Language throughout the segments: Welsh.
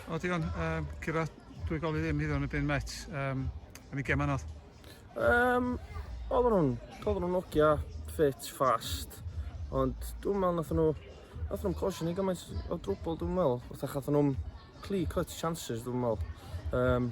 O digon, um, Cira, dwi gofio ddim hyd o'n y byn met, um, yn i gem anodd. Um, oedden nhw'n, oedden nhw'n ogia, ffit, fast, ond dwi'n meddwl nath nhw, nath nhw'n cosio ni gymaint o drwbl dwi'n meddwl, wrth achos nhw'n cli cut chances dwi'n meddwl. Um,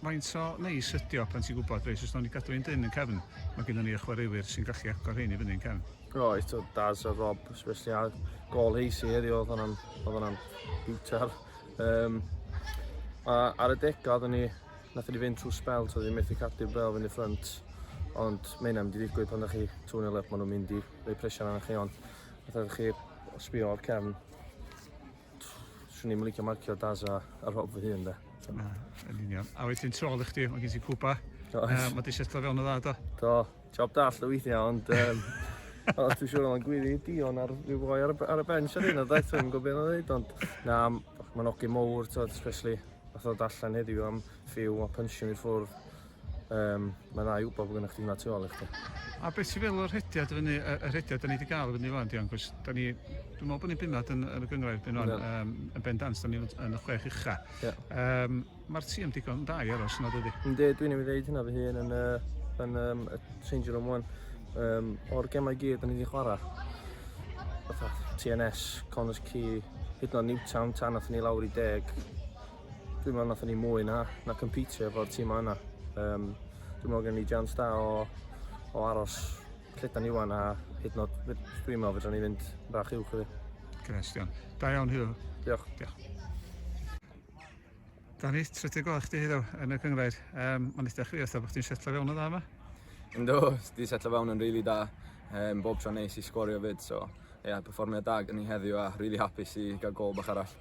Faint o neis ydi o pan ti'n gwybod, reit, os nawn ni gadw un dyn yn cefn, mae gennym ni y chwaraewyr sy'n gallu agor hyn i fyny yn cefn. Roedd eto Daz a Rob, especially ar gol heisi heddiw, oedd hwnna'n, oedd hwnna'n biwtar. Um, a ar y degau, oedden ni, nath ni fynd trwy spel, so ddim methu cadw bel fynd i ffrant. Ond mae hynna'n mynd i ddigwydd pan ydych chi tŵn elef, maen nhw'n mynd i rei presian arnoch chi, ond nath chi sbio o'r cefn Swn i'm yn licio marcio Daz a, a Rob fy hun, de. Na, yn union. A wedyn tu ôl i chdi, mae gen ti cwpa. Does. Uh, mae di setlo fewn o dda, do? Do. Job dall o weithiau, ond... Um, o, dwi'n siŵr o'n gwiri dion ar rhyw boi ar, ar y bench ar un o ddaeth, dwi'n gwybod beth o'n dweud, ond... Na, mae'n ogyn mowr, tod, especially, fath o dallan heddiw am ffiw a punching i ffwrdd. Um, mae'n rhai wybod bod gennych chi hwnna tu ôl i chdi. A beth sy'n fel y rhediad y fyny, y rhediad da ni wedi gael y fyny fan, Dion, cos da ni, dwi'n meddwl bod ni'n bimad yn, yn y gyngrair byn o'n, yeah. um, yn bendant, da ni yn y chwech ucha. Yeah. Um, Mae'r tîm digon da i aros yna, dydy? Ynddi, dwi'n ei ddeud hynna fy hun yn, uh, yn um, y changing room one. Um, o'r gemau gyd da ni wedi chwarae, fatha TNS, Connors Key, hyd yn oed Newtown, tan nath ni lawr i deg, Dwi'n meddwl nathon ni mwy na, na competio efo'r tîmau yna. Um, dwi'n meddwl gen ni jans da o, o aros lle da ni wan a hyd nod, dwi'n meddwl fydra ni fynd bach uwch i fi. Cynestian. Da iawn, Huw. Diolch. Diolch. Dani, trydydd gol chdi hyd yn y cyngrair. Um, Mae'n eitha chwi, oedd bod chdi'n setlo fewn o dda yma? Ynddo, di setlo fewn yn rili really da. Um, bob tro neis i sgorio fyd, so ie, yeah, performiad da gen ni heddiw a rili really hapus i gael gol bach arall.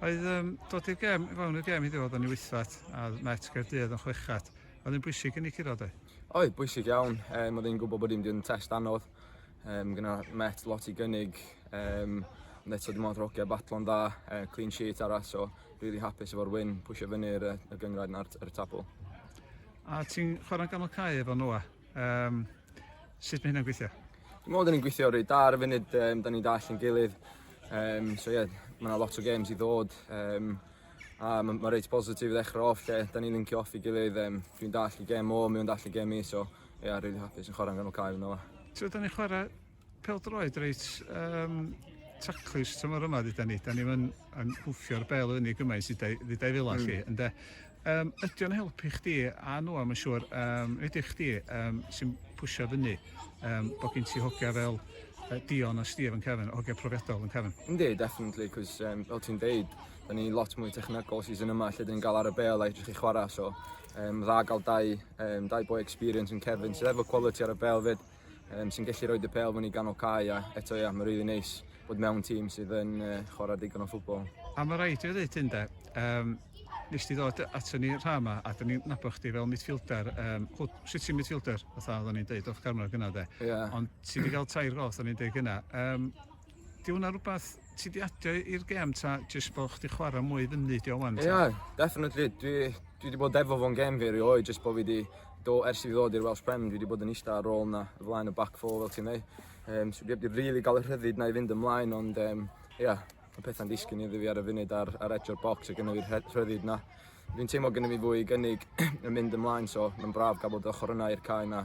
Oedd um, dod i'r gem, fewn i'r gem heddiw oedd yn ei wythfat, a Met Gaerdydd yn chwechat. Oedd yn bwysig yn ei curo, dweud? Oedd, bwysig iawn. Um, oedd yn gwybod bod i'n mynd test anodd. Um, gyda Met lot i gynnig. Um, ond eto dim ond rogia batlon dda, uh, clean sheet arall, so really hapus efo'r win, pwysio fyny y, y gyngraid na'r y tabl. A ti'n chwarae'n ganol cae efo Noah? Um, sut mae hynna'n gweithio? Dwi'n meddwl ni'n gweithio rhaid da ar y funud, um, da ni'n dall yn gilydd. Um, so ie, yeah, mae yna lot o games i ddod. Um, a mae ma reit positif i ddechrau off lle, da ni'n lincio off i gilydd. Um, dwi'n dall i gem o, mi'n dall i gem i, so ie, yeah, really hapus yn chwarae yn ganol cael yna. So, da ni'n chwarae Pêl-droed reit um, taclus tymor yma, dyda ni. Da ni'n yn hwffio'r bel fyny gymaint sydd dau fila mm. chi, ynddo. Um, ydy o'n helpu chdi, a nhw am yn siŵr, um, ydy chdi um, sy'n pwysio fyny, um, bod gen ti hogia fel uh, Dion a Steve yn Kevin, hogia profiadol yn Kevin? Ynddi, definitely, cos um, fel ti'n deud, da ni lot mwy technegol sydd yn yma lle dyn ni'n gael ar y bel a edrych i chwarae, so um, dda gael dau, um, dau boi experience yn Kevin sydd efo quality ar y bel fyd. um, sy'n gallu rhoi dy pel fyny ganol cae a eto ia, mae'n rili really neis bod mewn tîm sydd yn uh, chwarae digon o ffwbol. A mae rhaid i ddweud hyn de, um, nes ti ddod ato ni rha yma a dyn ni'n nabod chdi fel midfielder, um, hwt, sut ti'n midfielder, fatha oedden ni'n deud off camera gyna de, yeah. ond ti wedi cael tair gol, oedden ni'n deud gyna. Um, 'Di hwnna rwbath ti 'di adio i'r gêm ta jyst bo' chdi chwara mwy i fyny 'di o ŵan ta? Ia, definitely. Dwi dwi 'di bod efo fo'n gêm fi rioed jyst bo' fi 'di do- ers i fi ddod i'r Welsh Prem dwi 'di bod yn ista ar rôl 'na o flaen y back four fel ti'n ddeu'. Yym so dwi 'eb 'di rili ga'l y rhyddid 'na i fynd ymlaen ond yym ia ma' petha'n disgyn iddi fi ar y funud ar ar edge o'r bocs a gynno fi'r rhe- rhyddid 'na. Dwi'n teimlo gynno fi fwy i gynnig yn mynd ymlaen so ma'n braf ga'l bod ochor yna i'r cae 'na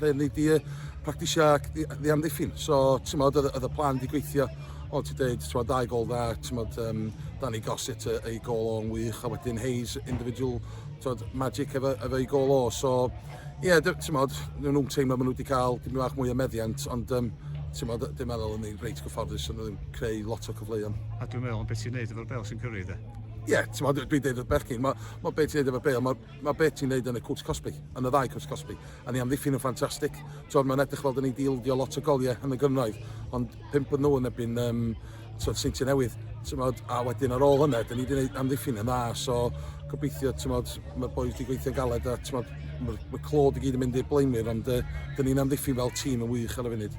Lle ni di practisio ac di, di amddiffyn. So, ti'n modd, oedd y plan di gweithio. Ond ti'n dweud, ti'n modd, dau gol dda, ti'n modd, um, Danny Gossett ei gol o'n wych, a wedyn Hayes, individual, ti'n modd, magic efo, efo ei gol o. So, ie, yeah, ti'n modd, nhw'n teimlo maen nhw wedi cael dim bach mwy o meddiant, ond um, ti'n modd, dim meddwl yn ei reit gyfforddus yn ddim creu lot o cyfleoedd. A dwi'n meddwl am beth ti'n neud efo'r bel sy'n cyrru, de? Ie, yeah, ti'n modd, dwi'n deud wrth bechgyn, mae ma beth ti'n neud efo'r bel, mae ma beth ti'n neud yn y cwrs cosbi, yn y ddau cwrs cosbi. A ni amddiffyn yn ffantastig. T'od mae'n edrych fel 'da ni 'di ildio lot o goliau yn y gynradd, ond pump yn nhw yn erbyn um, t'od Seintiau Newydd. T'mod, a wedyn ar ôl hynna, 'da ni 'di gwneud amddiffyn yn dda, so gobeithio, t'mod, mae'r boys 'di gweithio'n galed a t'mod, mae'r mae clod i gyd yn mynd i'r blaenwyr, ond uh, 'da ni'n amddiffyn fel tîm yn wych ar y funud.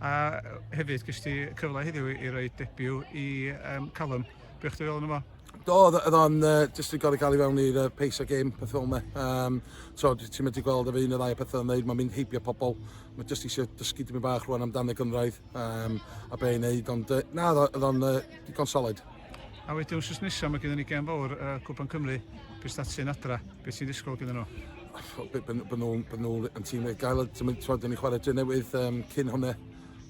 A hefyd, gys ti cyfle heddiw i roi debiw i um, Callum. Beth chdi fel yna fo? Do, oedd o'n uh, just yn gorau cael ei fewn i'r uh, pace o game, peth fel yna. Um, so, ti'n mynd i gweld efo un o ddau o pethau yn dweud, mae'n mynd heibio pobl. Mae jyst eisiau dysgu dim bach rwan amdano gynraedd um, a be i'n neud, ond uh, na, oedd o'n uh, digon solid. A wedyn wrth nesaf mae gyda ni gen fawr uh, Cwpan Cymru, beth sy'n ti'n adra, beth sy'n ddisgwyl gyda nhw? Byd nhw'n yn tîm ei gael, ti'n twad yn ei chwarae dyn newydd um, cyn hwnna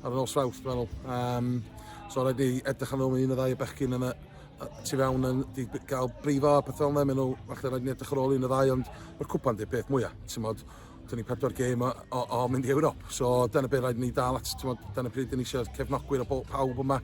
ar ôl nos Fawrth, dwi'n meddwl. Um, so rhaid ni edrych am ôl un o ddau o bechgyn yna tu fewn yn di gael brifo a pethau yna, maen nhw, falle rhaid ni edrych ar ôl un o ddau, ond mae'r cwpan di peth mwyaf, ti'n modd, dyn ni pedwar gêm o, o, o mynd i Ewrop, so dyna beth rhaid ni dal at, ti'n modd, dyna pryd dyn ni eisiau cefnogwyr o pawb yma,